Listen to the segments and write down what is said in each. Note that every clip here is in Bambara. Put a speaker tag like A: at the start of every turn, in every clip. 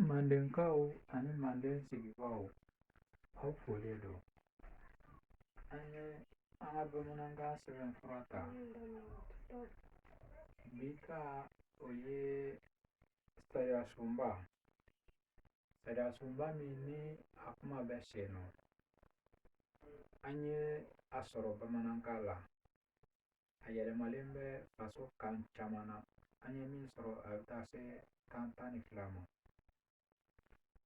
A: Mandenkaw ani manden sigibaaw aw folen don an ye an ka bamanankan sɛbɛnfura ta bi ka o ye sariyasunba sariyasunba min ni a kuma bɛ sen na an ye a sɔrɔ bamanankan la a yɛlɛmalen bɛ faso kan caman na an ye min sɔrɔ a bɛ taa se kan tan ni fila ma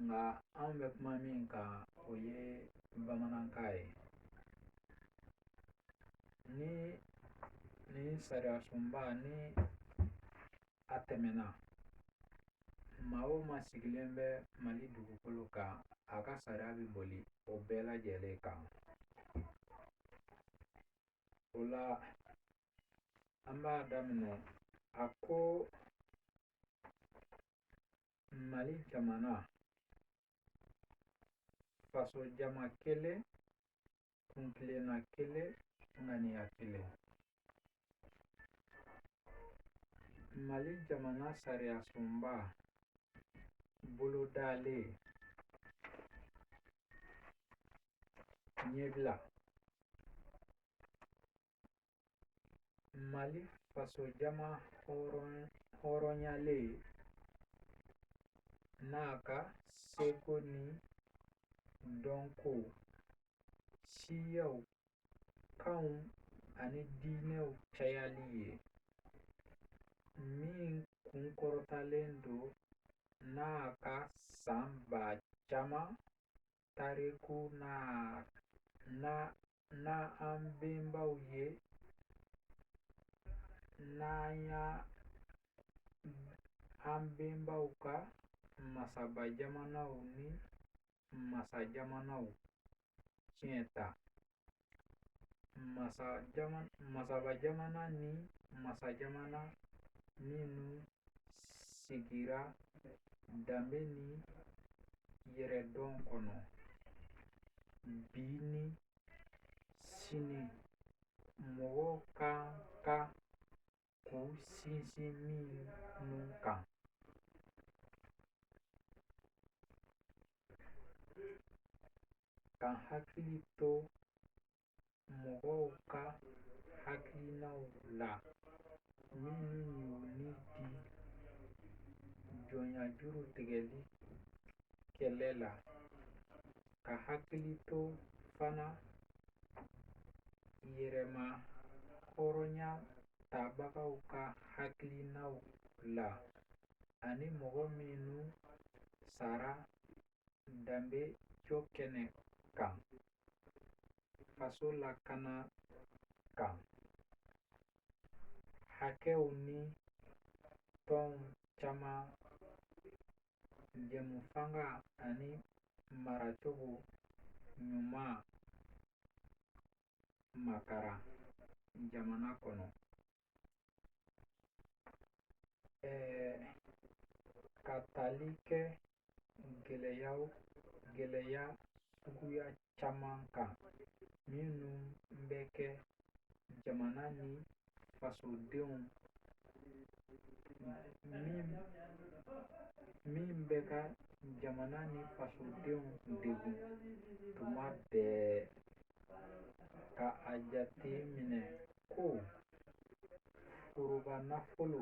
A: nka an bɛ kuma min kan o ye bamanankan ye nin sariyasunba ni a tɛmɛna maa o maa sigilen bɛ mali dugukolo kan a ka sariya bɛ boli o bɛɛ lajɛlen kan O la an b'a daminɛ a ko mali jamana faso jama kelen kuntilenna kelen ŋaniya kelen mali jamana sariyasunba bolodalen ɲɛbila mali fasojama hɔrɔnyalen n'a ka seko ni dɔnko siyaw kanw ani diinɛw cayali ye min kunkɔrɔtalen don n'a ka san ba caman tariku n'an bɛnbaw ye an bɛnbaw ka masaba jamanaw ni masa jamanaw ciyɛn ta masaba jamana ni masa jamana minnu sigira danbe ni yɛrɛdɔn kɔnɔ bi ni sini mɔgɔw ka kan k'u sinsin minnu kan. Ka hakili to mɔgɔw ka hakilinaw la minnu y'u ni di jɔnyajuru tigɛli kɛlɛ la ka hakili to fana yɛrɛmahɔrɔnya tabagaw ka hakilinaw la ani mɔgɔ minnu sara danbe jɔ kɛnɛ kan faso lakana kan hakɛw ni tɔnw caman jɛmufanga ani maracogo ɲuman makaran jamana kɔnɔ ka tali kɛ gɛlɛya suguya caman kan minnu bɛ kɛ jamana ni fasodenw min bɛ ka jamana ni fasodenw degun tuma bɛɛ ka a jate minɛ ko foroba nafolo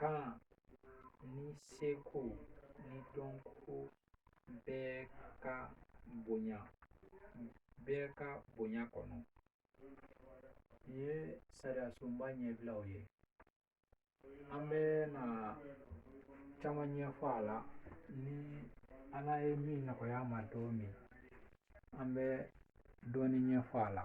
A: kan ni seko ni dɔnko bɛɛ ka bonya kɔnɔ nin ye sariyasunba ɲɛbilaw ye an bɛ na caman ɲɛfɔ a la ni ala ye min nɔgɔya ma don min an bɛ dɔɔnin ɲɛfɔ a la